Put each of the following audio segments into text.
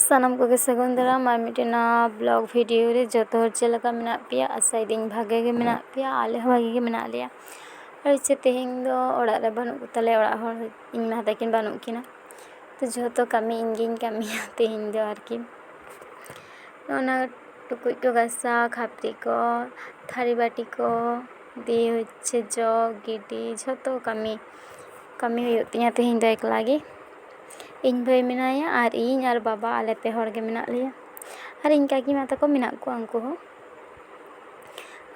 ᱥᱟᱱᱟᱢ ᱠᱚᱜᱮ ᱥᱟᱹᱜᱩᱱ ᱫᱟᱨᱟᱢ ᱟᱨ ᱢᱤᱫᱴᱮᱱ ᱱᱟᱣᱟ ᱵᱞᱚᱜᱽ ᱵᱷᱤᱰᱭᱳ ᱨᱮ ᱡᱚᱛᱚ ᱦᱚᱲ ᱪᱮᱫ ᱞᱮᱠᱟ ᱢᱮᱱᱟᱜ ᱯᱮᱭᱟ ᱟᱥᱟᱭᱮᱫᱟᱹᱧ ᱵᱷᱟᱜᱮ ᱜᱮ ᱢᱮᱱᱟᱜ ᱯᱮᱭᱟ ᱟᱞᱮ ᱦᱚᱸ ᱵᱷᱟᱜᱮ ᱜᱮ ᱢᱮᱱᱟᱜ ᱞᱮᱭᱟ ᱟᱨ ᱪᱮᱫ ᱛᱮᱦᱮᱧ ᱫᱚ ᱚᱲᱟᱜ ᱨᱮ ᱵᱟᱹᱱᱩᱜ ᱠᱚᱛᱟᱞᱮᱭᱟ ᱚᱲᱟᱜ ᱦᱚᱲ ᱤᱧ ᱢᱟ ᱛᱟᱹᱠᱤᱱ ᱵᱟᱹᱱᱩᱜ ᱠᱤᱱᱟ ᱛᱚ ᱡᱷᱚᱛᱚ ᱠᱟᱹᱢᱤ ᱤᱧ ᱜᱤᱧ ᱠᱟᱹᱢᱤᱭᱟ ᱛᱮᱦᱮᱧ ᱫᱚ ᱟᱨᱠᱤ ᱚᱱᱟ ᱴᱩᱠᱩᱡ ᱠᱚ ᱜᱟᱥᱟᱣ ᱠᱷᱟᱹᱯᱟᱹᱨᱤ ᱠᱚ ᱛᱷᱟᱹᱨᱤ ᱵᱟᱹᱴᱤ ᱠᱚ ᱫᱤᱭᱮ ᱦᱚᱪᱪᱷᱮ ᱡᱚᱜ ᱜᱤᱰᱤ ᱡᱷᱚᱛᱚ ᱠᱟᱹᱢᱤ ᱠᱟᱹᱢᱤ ᱦᱩᱭᱩᱜ ᱛᱤᱧᱟᱹ ᱛᱮᱦᱮᱧ ᱫᱚ ᱮᱠᱞᱟ ᱜᱮ ᱤᱧ ᱵᱷᱟᱹᱭ ᱢᱮᱱᱟᱭᱟ ᱟᱨ ᱤᱧ ᱟᱨ ᱵᱟᱵᱟ ᱟᱞᱮ ᱯᱮ ᱦᱚᱲ ᱜᱮ ᱢᱮᱱᱟᱜ ᱞᱮᱭᱟ ᱟᱨ ᱤᱧ ᱠᱟᱹᱠᱤᱢᱟ ᱛᱟᱠᱚ ᱢᱮᱱᱟᱜ ᱠᱚᱣᱟ ᱩᱱᱠᱩ ᱦᱚᱸ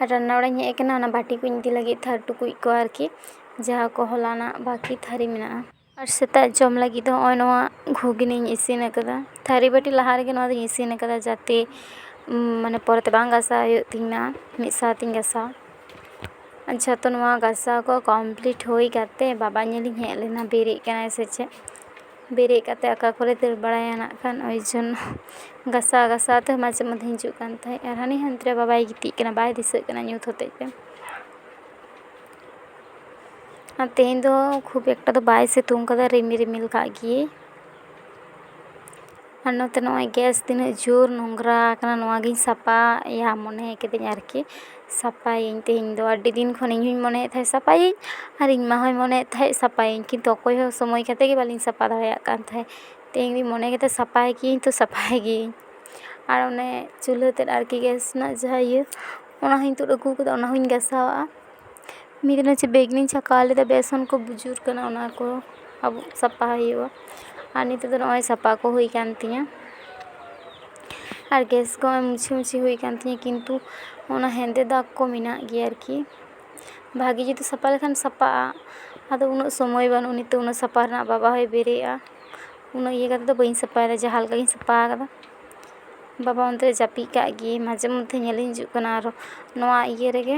ᱟᱨ ᱨᱟᱱᱱᱟ ᱚᱲᱟᱜ ᱤᱧ ᱦᱮᱡ ᱠᱟᱱᱟ ᱚᱱᱟ ᱵᱟᱹᱴᱤ ᱠᱚᱧ ᱤᱫᱤ ᱞᱟᱹᱜᱤᱫ ᱛᱷᱟᱹᱨ ᱴᱩᱠᱩᱡ ᱠᱚ ᱟᱨᱠᱤ ᱡᱟᱦᱟᱸ ᱠᱚ ᱦᱚᱞᱟᱱᱟᱜ ᱵᱟᱹᱠᱤ ᱛᱷᱟᱹᱨᱤ ᱢᱮᱱᱟᱜᱼᱟ ᱟᱨ ᱥᱮᱛᱟᱜ ᱡᱚᱢ ᱞᱟᱹᱜᱤᱫ ᱫᱚ ᱱᱚᱜᱼᱚᱭ ᱱᱚᱣᱟ ᱜᱷᱩᱜᱽᱱᱤᱧ ᱤᱥᱤᱱ ᱠᱟᱫᱟ ᱛᱷᱟᱹᱨᱤ ᱵᱟᱹᱴᱤ ᱞᱟᱦᱟ ᱨᱮᱜᱮ ᱱᱚᱣᱟ ᱫᱚᱧ ᱤᱥᱤᱱ ᱠᱟᱫᱟ ᱡᱟᱛᱮ ᱢᱟᱱᱮ ᱯᱚᱨᱮᱛᱮ ᱵᱟᱝ ᱜᱟᱥᱟᱣ ᱦᱩᱭᱩᱜ ᱛᱤᱧ ᱢᱟ ᱢᱤᱫ ᱥᱟᱶᱛᱮᱧ ᱜᱟᱥᱟᱣᱟ ᱟᱪᱪᱷᱟ ᱛᱚ ᱱᱚᱣᱟ ᱜᱟᱥᱟᱣ ᱠᱚ ᱠᱚᱢᱯᱞᱤᱴ ᱦᱩᱭ ᱠᱟᱛᱮ ᱵᱟᱵᱟ ᱧᱮᱞᱤᱧ ᱦᱮᱡ ᱞᱮᱱᱟ ᱵᱮᱨᱮᱫ ᱠᱟᱱᱟᱭ ᱥᱮ ᱪᱮᱫ ᱵᱮᱨᱮᱫ ᱠᱟᱛᱮ ᱚᱠᱟ ᱠᱚᱨᱮᱭ ᱫᱟᱹᱲ ᱵᱟᱲᱟᱭᱟ ᱱᱟᱜ ᱠᱷᱟᱱ ᱳᱭ ᱡᱚᱱᱱᱚ ᱜᱟᱥᱟᱣ ᱜᱟᱥᱟᱣ ᱛᱮ ᱢᱟᱡᱷᱮ ᱢᱚᱫᱽᱫᱷᱮ ᱦᱤᱡᱩᱜ ᱠᱟᱱ ᱛᱟᱦᱮᱸᱜ ᱟᱨ ᱦᱟᱹᱱᱤ ᱦᱟᱱᱛᱮ ᱨᱮ ᱵᱟᱵᱟᱭ ᱜᱤᱛᱤᱡ ᱠᱟᱱᱟ ᱵᱟᱭ ᱫᱤᱥᱟᱹᱜ ᱠᱟᱱᱟ ᱧᱩᱛ ᱦᱚᱛᱮᱡ ᱛᱮ ᱟᱨ ᱛᱮᱦᱮᱧ ᱫᱚ ᱠᱷᱩᱵ ᱮᱠᱴᱟ ᱫᱚ ᱵᱟᱭ ᱥᱤᱛᱩᱝ ᱠᱟᱫᱟ ᱨᱤᱢᱤᱞ ᱨᱤᱢᱤᱞ ᱠᱟᱜ ᱜᱮᱭᱟᱭ ᱟᱨ ᱱᱚᱛᱮ ᱱᱚᱜᱼᱚᱭ ᱜᱮᱥ ᱛᱤᱱᱟᱹᱜ ᱡᱳᱨ ᱱᱳᱝᱨᱟ ᱟᱠᱟᱱᱟ ᱱᱚᱣᱟ ᱜᱤᱧ ᱥᱟᱯᱷᱟᱭᱟ ᱢᱚᱱᱮ ᱠᱤᱫᱟᱹᱧ ᱟᱨᱠᱤ ᱥᱟᱯᱷᱟᱭᱟᱹᱧ ᱛᱮᱦᱮᱧ ᱫᱚ ᱟᱹᱰᱤ ᱫᱤᱱ ᱠᱷᱚᱱ ᱤᱧ ᱦᱚᱸᱧ ᱢᱚᱱᱮᱭᱮᱫ ᱛᱟᱦᱮᱸᱜ ᱥᱟᱯᱷᱟᱭᱟᱹᱧ ᱟᱨ ᱤᱧ ᱢᱟ ᱦᱚᱸᱭ ᱢᱚᱱᱮᱭᱮᱫ ᱛᱟᱦᱮᱸᱜ ᱥᱟᱯᱷᱟᱭᱟᱹᱧ ᱠᱤᱱᱛᱩ ᱚᱠᱚᱭ ᱦᱚᱸ ᱥᱚᱢᱚᱭ ᱠᱟᱛᱮ ᱜᱮ ᱵᱟᱹᱞᱤᱧ ᱥᱟᱯᱷᱟ ᱫᱟᱲᱮᱭᱟᱜ ᱠᱟᱱ ᱛᱟᱦᱮᱸᱜ ᱛᱮᱦᱮᱧ ᱫᱚᱧ ᱢᱚᱱᱮ ᱠᱮᱫᱟ ᱥᱟᱯᱷᱟᱭ ᱜᱤᱭᱟᱹᱧ ᱛᱚ ᱥᱟᱯᱷᱟᱭ ᱜᱤᱭᱟᱹᱧ ᱟᱨ ᱚᱱᱮ ᱪᱩᱞᱦᱟᱹ ᱛᱮᱫ ᱟᱨᱠᱤ ᱜᱮᱥ ᱨᱮᱱᱟᱜ ᱡᱟᱦᱟᱸ ᱤᱭᱟᱹ ᱚᱱᱟ ᱦᱚᱸᱧ ᱛᱩᱫ ᱟᱹᱜᱩ ᱠᱟᱫᱟ ᱚᱱᱟ ᱦᱚᱸᱧ ᱜᱟᱥᱟᱣᱟᱜᱼᱟ ᱢᱤᱫ ᱫᱤᱱ ᱦᱚᱪᱪᱷᱮ ᱵᱮᱜᱽᱱᱤᱧ ᱪᱷᱟᱠᱟᱣ ᱞᱮᱫᱟ ᱵᱮᱥᱚᱱ ᱠᱚ ᱵᱩᱡᱩᱨ ᱠᱟᱱᱟ ᱚᱱᱟ ᱠᱚ ᱟᱵᱩᱜ ᱥᱟᱯᱷᱟ ᱦᱩᱭᱩᱜᱼᱟ ᱟᱨ ᱱᱤᱛᱚᱜ ᱫᱚ ᱱᱚᱜᱼᱚᱭ ᱥᱟᱯᱟ ᱠᱚ ᱦᱩᱭ ᱠᱟᱱ ᱛᱤᱧᱟᱹ ᱟᱨ ᱜᱮᱥ ᱠᱚ ᱢᱩᱪᱷᱤ ᱢᱩᱪᱷᱤ ᱦᱩᱭ ᱠᱟᱱ ᱛᱤᱧᱟᱹ ᱠᱤᱱᱛᱩ ᱚᱱᱟ ᱦᱮᱸᱫᱮ ᱫᱟᱜᱽ ᱠᱚ ᱢᱮᱱᱟᱜ ᱜᱮᱭᱟ ᱟᱨᱠᱤ ᱵᱷᱟᱜᱮ ᱡᱩᱫᱤ ᱥᱟᱯᱟ ᱞᱮᱠᱷᱟᱱ ᱥᱟᱯᱟᱜᱼᱟ ᱟᱫᱚ ᱩᱱᱟᱹᱜ ᱥᱚᱢᱚᱭ ᱵᱟᱹᱱᱩᱜᱼᱟ ᱱᱤᱛᱚᱜ ᱩᱱᱟᱹᱜ ᱥᱟᱯᱟ ᱨᱮᱱᱟᱜ ᱵᱟᱵᱟ ᱦᱚᱸᱭ ᱵᱮᱨᱮᱫᱼᱟ ᱩᱱᱟᱹᱜ ᱤᱭᱟᱹ ᱠᱟᱛᱮ ᱫᱚ ᱵᱟᱹᱧ ᱥᱟᱯᱟᱭᱮᱫᱟ ᱡᱟᱦᱟᱸ ᱞᱮᱠᱟ ᱜᱮᱧ ᱥᱟᱯᱟ ᱠᱟᱫᱟ ᱵᱟᱵᱟ ᱚᱱᱛᱮ ᱨᱮ ᱡᱟᱹᱯᱤᱫ ᱠᱟᱜ ᱜᱮ ᱢᱟᱡᱷᱮ ᱢᱚᱫᱽᱫᱷᱮ ᱧᱮᱞᱮᱧ ᱦᱤᱡᱩᱜ ᱠᱟᱱᱟ ᱟᱨᱚ ᱱᱚᱣᱟ ᱤᱭᱟᱹ ᱨᱮᱜᱮ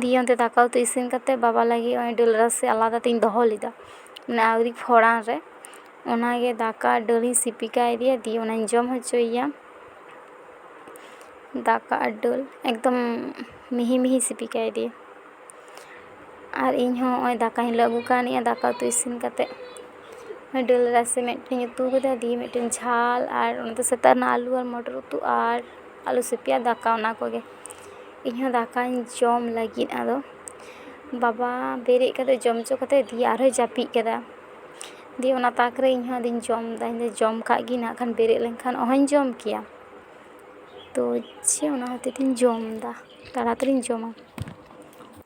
ᱫᱤᱭᱮ ᱚᱱᱛᱮ ᱫᱟᱠᱟ ᱩᱛᱩ ᱤᱥᱤᱱ ᱠᱟᱛᱮ ᱵᱟᱵᱟ ᱞᱟᱹᱜᱤᱫ ᱦᱚᱸᱜᱼᱚᱭ ᱫᱟᱹᱞ ᱨᱟᱥᱮ ᱟᱞᱟᱫᱟ ᱛᱤᱧ ᱫᱚᱦᱚ ᱞᱮᱫᱟ ᱢᱟᱱᱮ ᱟᱣᱨᱤ ᱯᱷᱚᱲᱟᱱ ᱨᱮ ᱚᱱᱟᱜᱮ ᱫᱟᱠᱟ ᱟᱨ ᱫᱟᱹᱞ ᱤᱧ ᱥᱤᱯᱤ ᱠᱟᱣᱫᱮᱭᱟ ᱫᱤᱭᱮ ᱚᱱᱟᱧ ᱡᱚᱢ ᱦᱚᱪᱚᱭᱮᱭᱟ ᱫᱟᱠᱟ ᱟᱨ ᱫᱟᱹᱞ ᱮᱠᱫᱚᱢ ᱢᱤᱦᱤ ᱢᱤᱦᱤᱧ ᱥᱤᱯᱤ ᱠᱟᱣᱫᱮᱭᱟ ᱟᱨ ᱤᱧ ᱦᱚᱸ ᱦᱚᱸᱜᱼᱚᱭ ᱫᱟᱠᱟ ᱦᱚᱸᱧ ᱞᱩ ᱟᱹᱜᱩ ᱠᱟᱣᱱᱤᱜᱼᱟ ᱫᱟᱠᱟ ᱩᱛᱩ ᱤᱥᱤᱱ ᱠᱟᱛᱮ ᱫᱟᱹᱞ ᱨᱟᱥᱮ ᱢᱤᱫᱴᱮᱡ ᱤᱧ ᱩᱛᱩ ᱠᱟᱫᱟ ᱫᱤᱭᱮ ᱢᱤᱫᱴᱮᱡ ᱡᱷᱟᱞ ᱟᱨ ᱚᱱᱟ ᱫᱚ ᱥᱮᱛᱟᱜ ᱨᱮᱱᱟᱜ ᱟᱹᱞᱩ ᱟᱨ ᱢᱚᱴᱚᱨ ᱩᱛᱩ ᱟᱨ ᱟᱹᱞᱩ ᱥᱤᱯᱤ ᱟᱨ ᱫᱟᱠᱟ ᱚᱱᱟ ᱠᱚᱜᱮ ᱤᱧᱦᱚᱸ ᱫᱟᱠᱟᱧ ᱡᱚᱢ ᱞᱟᱹᱜᱤᱫ ᱟᱫᱚ ᱵᱟᱵᱟ ᱵᱮᱨᱮᱫ ᱠᱟᱛᱮᱫ ᱡᱚᱢ ᱦᱚᱪᱚ ᱠᱟᱛᱮᱫ ᱫᱤᱭᱮ ᱟᱨᱦᱚᱸᱭ ᱡᱟᱹᱯᱤᱫ ᱠᱮᱫᱟ ᱫᱤᱭᱮ ᱚᱱᱟ ᱛᱟᱠ ᱨᱮ ᱤᱧᱦᱚᱸ ᱟᱫᱚᱧ ᱡᱚᱢᱫᱟ ᱤᱧᱫᱚᱧ ᱡᱚᱢ ᱠᱟᱜ ᱜᱮ ᱱᱟᱜ ᱠᱷᱟᱱ ᱵᱮᱨᱮᱫ ᱞᱮᱱᱠᱷᱟᱱ ᱚᱦᱚᱧ ᱡᱚᱢ ᱠᱮᱭᱟ ᱛᱳ ᱪᱮᱫ ᱚᱱᱟ ᱦᱚᱛᱮᱫ ᱛᱤᱧ ᱡᱚᱢᱫᱟ ᱛᱟᱲᱟᱛᱟᱹᱲᱤᱧ ᱡᱚᱢᱟ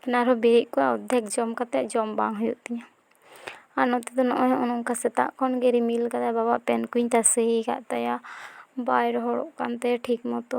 ᱮᱱᱠᱷᱟᱱ ᱟᱨᱦᱚᱸ ᱵᱮᱨᱮᱫ ᱠᱚᱜᱼᱟ ᱚᱨᱫᱷᱮᱠ ᱡᱚᱢ ᱠᱟᱛᱮᱫ ᱡᱚᱢ ᱵᱟᱝ ᱦᱩᱭᱩᱜ ᱛᱤᱧᱟᱹ ᱟᱨ ᱱᱚᱛᱮ ᱫᱚ ᱱᱚᱜᱼᱚᱭ ᱱᱚᱜᱼᱚ ᱱᱚᱝᱠᱟ ᱥᱮᱛᱟᱜ ᱠᱷᱚᱱ ᱜᱮ ᱨᱤᱢᱤᱞ ᱠᱟᱫᱟᱭ ᱵᱟᱵᱟᱣᱟᱜ ᱯᱮᱱᱴ ᱠᱚᱧ ᱛᱟᱥᱮ ᱟᱠᱟᱫ ᱛᱟᱭᱟ ᱵᱟᱭ ᱨᱚᱦᱚᱲᱚᱜ ᱠᱟᱱ ᱛᱟᱭᱟ ᱴᱷᱤᱠ ᱢᱚᱛᱚ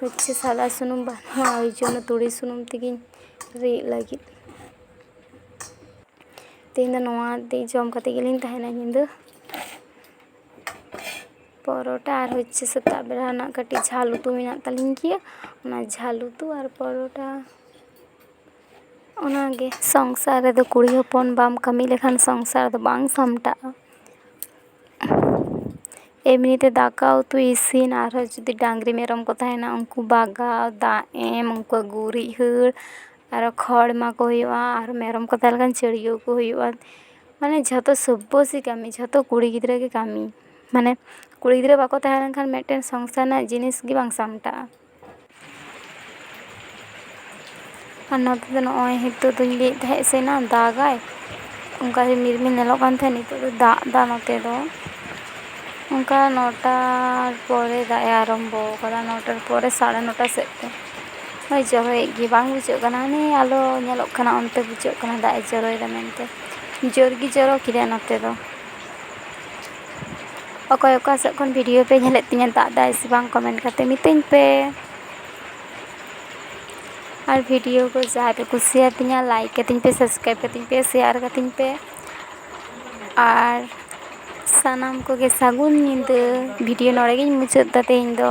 ᱦᱚᱪᱪᱷᱮ ᱥᱟᱫᱟ ᱥᱩᱱᱩᱢ ᱵᱟᱹᱱᱩᱜᱼᱟ ᱳᱭ ᱡᱚᱱᱱᱚ ᱛᱩᱲᱤ ᱥᱩᱱᱩᱢ ᱛᱮᱜᱤᱧ ᱨᱤᱫ ᱞᱟᱹᱜᱤᱫ ᱛᱮᱦᱮᱧ ᱫᱚ ᱱᱚᱣᱟ ᱛᱮ ᱡᱚᱢ ᱠᱟᱛᱮ ᱜᱮᱞᱤᱧ ᱛᱟᱦᱮᱱᱟ ᱧᱤᱫᱟᱹ ᱯᱚᱨᱚᱴᱟ ᱟᱨ ᱦᱚᱪᱪᱷᱮ ᱥᱮᱛᱟᱜ ᱵᱮᱲᱟ ᱨᱮᱱᱟᱜ ᱠᱟᱹᱴᱤᱡ ᱡᱷᱟᱞ ᱩᱛᱩ ᱢᱮᱱᱟᱜ ᱛᱟᱹᱞᱤᱧ ᱜᱮᱭᱟ ᱚᱱᱟ ᱡᱷᱟᱞ ᱩᱛᱩ ᱟᱨ ᱯᱚᱨᱚᱴᱟ ᱚᱱᱟᱜᱮ ᱥᱚᱝᱥᱟᱨ ᱨᱮᱫᱚ ᱠᱩᱲᱤ ᱦᱚᱯᱚᱱ ᱵᱟᱢ ᱠᱟᱹᱢᱤ ᱞᱮᱠᱷᱟᱱ ᱥᱚᱝᱥᱟᱨ ᱫᱚ ᱵᱟᱝ ᱥᱟᱢᱴᱟᱜᱼᱟ ᱮᱢᱱᱤ ᱛᱮ ᱫᱟᱠᱟ ᱩᱛᱩ ᱤᱥᱤᱱ ᱟᱨᱦᱚᱸ ᱡᱩᱫᱤ ᱰᱟᱝᱨᱤ ᱢᱮᱨᱚᱢ ᱠᱚ ᱛᱟᱦᱮᱱᱟ ᱩᱱᱠᱩ ᱵᱟᱜᱟᱣ ᱫᱟᱜ ᱮᱢ ᱩᱱᱠᱩᱣᱟᱜ ᱜᱩᱨᱤᱡ ᱦᱟᱹᱨ ᱟᱨᱚ ᱠᱷᱚᱲ ᱮᱢᱟ ᱠᱚ ᱦᱩᱭᱩᱜᱼᱟ ᱟᱨ ᱢᱮᱨᱚᱢ ᱠᱚ ᱛᱟᱦᱮᱸ ᱞᱮᱱᱠᱷᱟᱱ ᱪᱟᱹᱰᱭᱟᱹᱣ ᱠᱚ ᱦᱩᱭᱩᱜᱼᱟ ᱢᱟᱱᱮ ᱡᱷᱚᱛᱚ ᱥᱚᱵᱵᱚᱥᱟᱪᱤ ᱠᱟᱹᱢᱤ ᱡᱷᱚᱛᱚ ᱠᱩᱲᱤ ᱜᱤᱫᱽᱨᱟᱹ ᱜᱮ ᱠᱟᱹᱢᱤ ᱢᱟᱱᱮ ᱠᱩᱲᱤ ᱜᱤᱫᱽᱨᱟᱹ ᱵᱟᱠᱚ ᱛᱟᱦᱮᱸ ᱞᱮᱱᱠᱷᱟᱱ ᱢᱤᱫᱴᱮᱱ ᱥᱚᱝᱥᱟᱨ ᱨᱮᱱᱟᱜ ᱡᱤᱱᱤᱥ ᱜᱮ ᱵᱟᱝ ᱥᱟᱢᱴᱟᱜᱼᱟ ᱟᱨ ᱱᱚᱛᱮ ᱫᱚ ᱱᱚᱜᱼᱚᱭ ᱱᱤᱛᱚᱜ ᱫᱚᱧ ᱞᱟᱹᱭᱮᱫ ᱛᱟᱦᱮᱸᱜ ᱥᱮ ᱮᱱᱟᱝ ᱫᱟᱜᱟᱭ ᱚᱱᱠᱟ ᱨᱤᱢᱤᱞ ᱨᱤᱢᱤᱞ ᱧᱮᱞᱚᱜ ᱠᱟᱱ ᱛᱟᱦᱮᱸᱜ ᱱᱤᱛᱚᱜ ᱫᱚ ᱫᱟᱜ ᱫᱟ ᱱᱚᱛᱮ ᱫᱚ ᱚᱱᱠᱟ ᱱᱚᱴᱟ ᱯᱚᱨᱮ ᱫᱟᱜ ᱮ ᱟᱨᱟᱢᱵᱚ ᱠᱟᱫᱟ ᱱᱚᱴᱟ ᱯᱚᱨᱮ ᱥᱟᱲᱮ ᱱᱚᱴᱟ ᱥᱮᱫ ᱛᱮ ᱦᱚᱭ ᱡᱚᱨᱚᱭᱮᱜ ᱜᱮᱭᱟᱭ ᱵᱟᱝ ᱵᱩᱡᱷᱟᱹᱜ ᱠᱟᱱᱟ ᱦᱟᱱᱮ ᱟᱞᱚ ᱧᱮᱞᱚᱜ ᱠᱟᱱᱟ ᱚᱱᱛᱮ ᱵᱩᱡᱷᱟᱹᱜ ᱠᱟᱱᱟ ᱫᱟᱜ ᱮ ᱡᱚᱨᱚᱭᱮᱫᱟ ᱢᱮᱱᱛᱮ ᱡᱳᱨ ᱜᱮ ᱡᱚᱨᱚ ᱠᱮᱫᱟᱭ ᱱᱚᱛᱮ ᱫᱚ ᱚᱠᱚᱭ ᱚᱠᱟ ᱥᱮᱫ ᱠᱷᱚᱱ ᱵᱷᱤᱰᱤᱭᱳ ᱯᱮ ᱧᱮᱞᱮᱫ ᱛᱤᱧᱟᱹ ᱫᱟᱜ ᱫᱟᱭ ᱥᱮ ᱵᱟᱝ ᱠᱚᱢᱮᱱᱴ ᱠᱟᱛᱮ ᱢᱤᱛᱟᱹᱧ ᱯᱮ ᱟᱨ ᱵᱷᱤᱰᱤᱭᱳ ᱠᱚ ᱡᱟᱦᱟᱸᱭ ᱯᱮ ᱠᱩᱥᱤᱭᱟᱛᱤᱧᱟ ᱞᱟᱭᱤᱠ ᱠᱟᱹᱛᱤᱧ ᱯᱮ ᱥᱟᱵᱥᱠᱨᱟᱭᱤᱵᱽ ᱠᱟᱹᱛᱤᱧ ᱯᱮ ᱥᱮᱭᱟᱨ ᱠᱟᱹᱛᱤᱧ ᱯᱮ ᱟᱨ ᱥᱟᱱᱟᱢ ᱠᱚᱜᱮ ᱥᱟᱹᱜᱩᱱ ᱧᱤᱫᱟᱹ ᱵᱷᱤᱰᱤᱭᱳ ᱱᱚᱰᱮ ᱜᱤᱧ ᱢᱩᱪᱟᱹᱫ ᱮᱫᱟ ᱛᱮᱦᱮᱧ ᱫᱚ